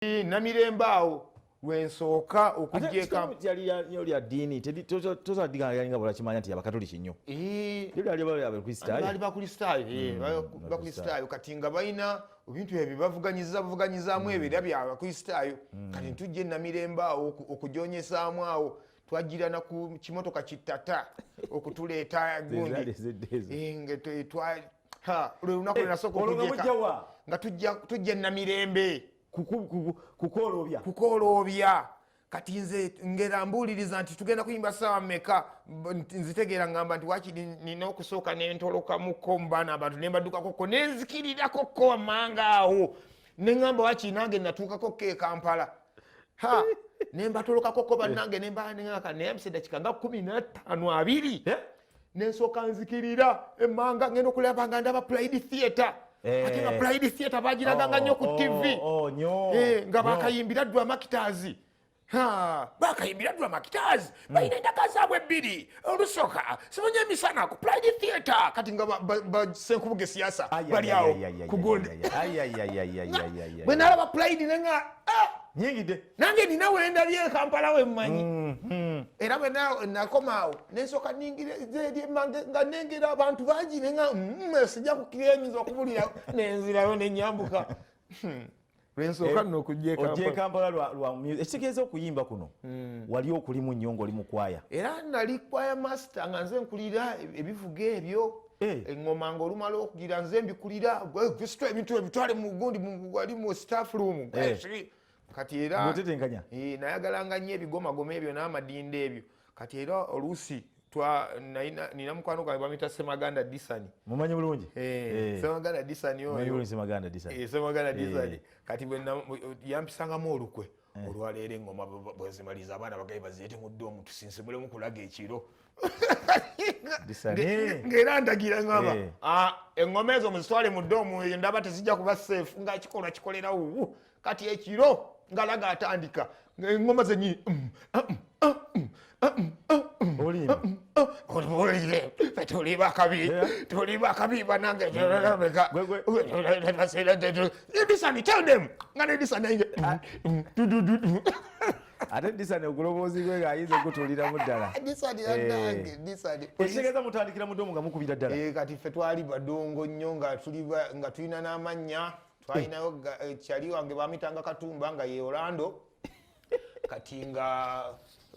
namirembe awo lwensooka okujyekalyalya ddiini tozadiga yalinga bwolakimanya nti abakatoliki nnyo bakristaayo bakristaayo kati nga balina ebintu ebyo bavuganyiza buvuganyizaamu mm. ebyo era byabakristaayo mm. kati ntujja enamirembe awo okujonyesaamu awo twajjira na ku kimotoka kitata okutuleeta gundi lwe lunaku eh, lwenasooka okujeka nga tujja namirembe kukooloobya kukooloobya kati nze ngera mbuuliriza nti tugenda kuyimba saawa meka nzitegeera ngamba nti waki nina okusooka nentolokamuko mubaana abantu nembaddukakoko nenzikirirako ko wammanga awo neŋamba waki nange natuukako ko ekampala ha nembatolokakoko bannange nembaanaka naye amusedakika nga kumi nataano abiri eh? nensooka nzikirira emmanga ngenda okulaba nga ndaba pride theatre eh. ate nga pride theatre bagiraganga nnyo ku oh, tv oh, oh, eh, nga bakayimbira ddu amakitaazi bakayimbira ddu amakitaazi hmm. balina endaka zaabwe ebbiri olusoka simanyi emisana ku pride theatre kati nga basenkubuga esiyasa bali awo kugonde bwe nalaba pride nenga ah! nyingide nange nina wendabye ekampala wemmanyi mm, mm. era bwenakomaawo nensoka nga nengera abantu bangi nenga mm, sijja kukira enyinza okubulira nenzirayo nenyambuka hmm. lwensooka eh, nno okujjekampala ekitegeeza okuyimba kuno hmm. wali okulimu nnyo ngaoli mukwaya era nali kwaya master nga nze nkulira ebivuga ebyo eh. eŋoma nga olumala okugira nze mbikulira ebintu ebitwale mugundi wali mu staff room eh. kati era otetenkanya eh nayagala nga nyo ebigomagoma ebyo n'amadinda ebyo kati era oluusi twa naina nina mukwano gwange bamita semaganda disani mumanyi bulungi eh, eh. semaganda disani oyo semaganda disani eh, semaganda eh. disani kati bwe yampisangamu olukwe eh. olwaleero engoma bwezimaliza abaana bagaye bazireete mu ddoomu tusinsimulemu kulaga ekiro ng'era ndagira ngamba eh. ah, engoma ezo muzitwale mu ddoomu eyo ndaba tezijja kuba seefu nga kikolwa kikolerawo kati ekiro ngalaga atandika engoma zenyini olibulire tuli bakabi tuli bakabi banange edisani tell them nga nedisani ainge ate disani oguloboozi gwe ng'ayinza okutuliramu ddala ekitegeeza mutandikira mudomu nga mukubira ddala kati ffe twali badongo nnyo nga tulina n'amannya twalinayo eh, kyali wange bamitanga katumba nga ye orlando kati nga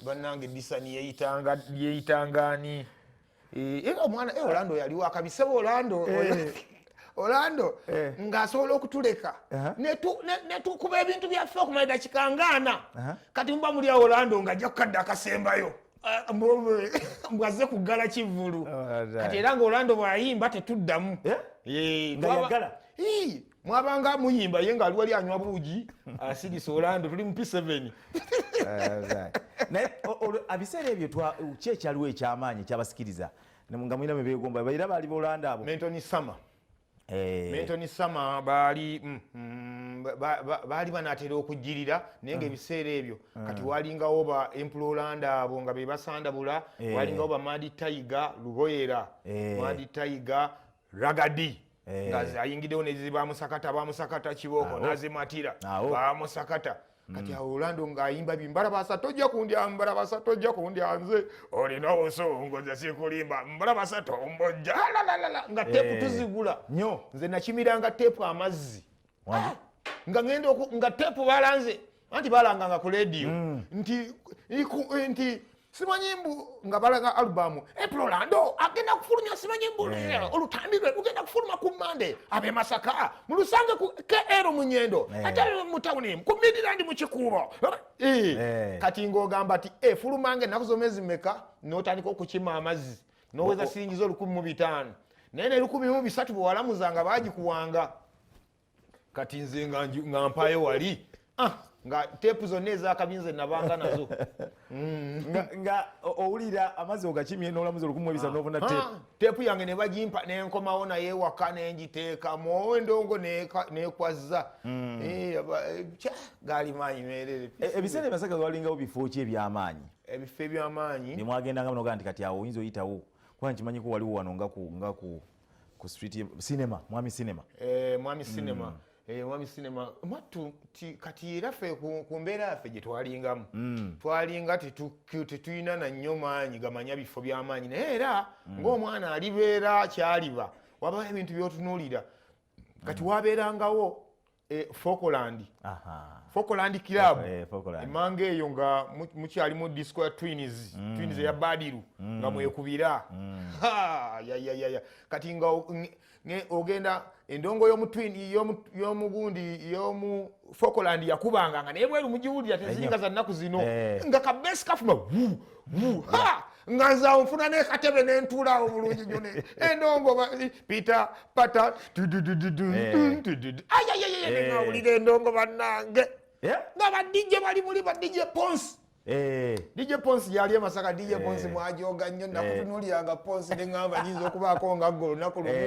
banange disani yeyitanga yeyitanga ani eh, era omwana eh, orlando yali wakabisebo orlando orlando ng'asobola okutuleka netukuba ebintu byaffe okumala dakika ngaana kati muba muli awo orlando ng'ajja kukadde akasembayo ah, mbwazze kuggala kivvulu oh, kati era nga orlando bwayimba tetuddamu mwabanga muyimba ye ngaali wali anywa buugi asigisa olando tuli mu p7 naye abiseera ebyo ki ekyaliwo ekyamaanyi ekyabasikiriza nga mulina mebegomba era baali bolanda abo mentoni sama eh. mentoni sama baali mm, mm, baali banatera okujjirira naye nga mm. ebiseera ebyo kati walingawo ba empula olanda abo nga bebasandabula eh. walingawo ba madi taiga luboyera eh. madi taiga ragadi eh. nga ayingidewo nezi bamusakata bamusakata kibooko nazimatira bamusakata kati mm. awo olando ngaayimba bi mbalabasa tojja kundya mbalabasa tojja kundya nze olina obusungu nze sikulimba mbalabasa tombojja lalalala nga tepu eh. tuzigula nyo nze nakimiranga tepu amazzi ah! nga ngenda nga tepu balanze anti balanganga ku lediyo mm. nti eh, nti simanyi mbu nga balaga alubamu epulolando agenda kufulumya simanyi mbu eh. olutambi lwe lugenda kufuluma ku mande abe masaka mulusange ku kr munyendo eh. ate mu tawuni ku midland mu kikuubo kati ngaogamba ti efulumange enaku zomezi meka notandika okukima amazzi noweza siringiza olukumi mu bitaano naye nelukumi mu bisatu bwewalamuzanga bagikuwanga kati nze nga mpayo wali ah, nga teepu zonna ezakabinze nabanga nazo mm. nga owulira amazzi ogakimye nolamuzi olukumu ebisa ah. nobona ah, teepu teepu yange nebagimpa nenkomawo naye waka nengiteekamu endongo nekwazza mm. eh, eh, gaali maanyi merere e, ebiseera emasaka walingawo bifo ki ebyamaanyi ebifo ebyamaanyi nemwagendangamu nogaa nti kati awo oyinza oyitawo kuba nkimanyiko waliwo wano ngaku ku street ye cinema mwami cinema eh mwami cinema mm. eh mwami cinema matu ti, kati era fe ku, ku mbera yafe je twalingamu mm. twalinga ti tu cute tuina na nyoma nyi gamanya bifo bya manyi na era mm. ngo mwana alibera kyaliba waba ebintu byotunulira kati mm. waberangawo E, Fokoland Fokoland club e, emanga eyo nga mukyalimu disco ya twins mm. twins eya badiru mm. nga mwekubira mm. yayayaya kati nga ogenda endongo yomugundi yomu Fokoland yakubanga nga naye bweru mugiwulira teziringa za nnaku zino eh. nga kabesi kafuma nga nze awo nfuna nekatebe nentuula awo bulungi nyo endongo peter pata ayayayayawulira endongo bannange nga badijje bali muli badijje ponsi Eh. DJ Ponsi yali emasaka DJ eh. Ponsi mwajoga nnyo eh. nakutunulyanga Ponsi neŋamba nyinza okubaako nga gwe olunaku lumu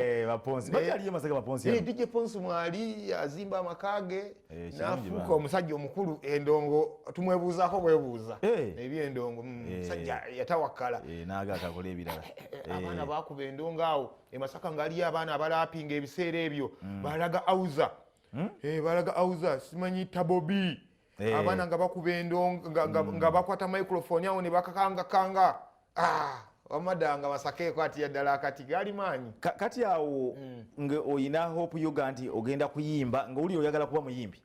DJ Ponsi mwali azimba amaka ge Eh, nafuuka omusajja omukulu endongo tumwebuuzako bwebuuza eh. ebyendongo mm, eh. musajja yatawakkala naga atakola ebirala abaana bakuba endongo awo emasaka ngaaliyo abaana abalapinga ebiseera ebyo mm. balaga auza hmm? balaga auza simanyi tabobi abaana nga bakuba endongo nga hmm. bakwata microfoni awo nebakakangakanga ah, wamadanga basakeeko ati yaddala akati gali maanyi kati awo mm. nga oyina hope yoga nti ogenda kuyimba nga wuli oyagala kuba muyimbi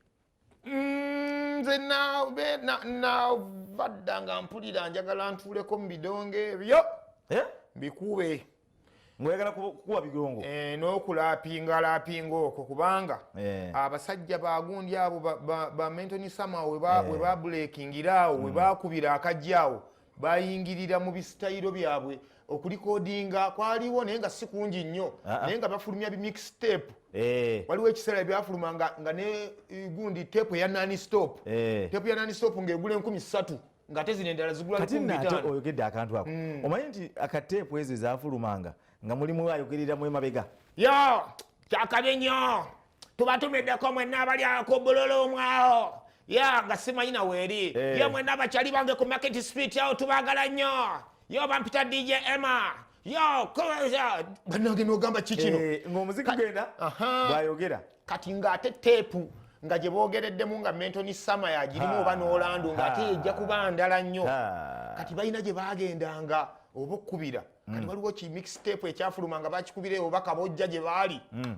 mm, nze navaddanga mpulira njagala ntuuleko mu bidonge ebyo eh? mbikuube eh? ngoyagala kukuwa bigongo eh, nokulapinga lapinga okwo kubanga eh. abasajja bagundi abo bamentoni sama webabulekingira eh. awo mm. webakubira akajja awo bayingirira mu bisitayiro byabwe okulikodinga kwaliwo naye nga si kungi nnyo ah, ah. naye nga bafulumya bimixtape eh. waliwo ekiseera byafuluma nga ne gundi tepu eya nani stop eh. tepu ya nani stop ngaegula enkumi satu ngate zino endala zigula kati nate oyogedde akantu ako mm. omanyi nti akateepu ezo ezafulumanga nga mulimu ayogerera mu emabega yo kyakabi nnyo tubatumiddeko mwenna abali ku bulolo omwawo ya nga simanyi na weeri eh. ye mwenna abakyali bange ku market street awo tubagala nnyo yo bampita dj emma banange nogamba kikino eh, ngaomuziki genda bwayogera kati ngaate teepu nga gye boogereddemu nga mentoni sama yagirimu oba n'olandu ngaate yejja kuba ndala nnyo kati balina gye bagendanga oba okkubira kati mm. waliwo ki mixtape ekyafuluma nga bakikubira obubaka bojja gye baali mm.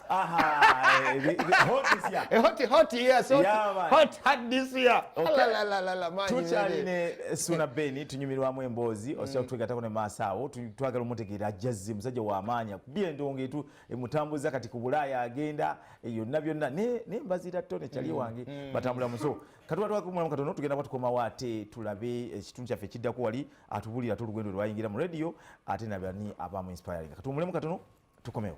Aha, eh, hot this year. Eh, hot, hot year, so yeah, man. hot, hot this year. Okay. La, la, la, la, la, man. Tuchali ne eh, Suna Beni, tunyumirwamu emboozi, mm. osio tuwegatako ne maasa awo, twagala omutegeera ajjazzi, musajja wa amaanya, kubira endongo etu, emutambuza kati ku Bulaaya agenda, yonna byonna, ne, ne mbazira to ne chali mm. wange, mm. batambula muso. Katuwa tuwa kumulamu katono, tugenda kwa tukoma wate, tulabe, kitundu kyaffe kiddako wali, atubulira tulugendo lwayingira mu radio, ate nabani abamu inspiring. Katuwa mulamu katono, tukomewo.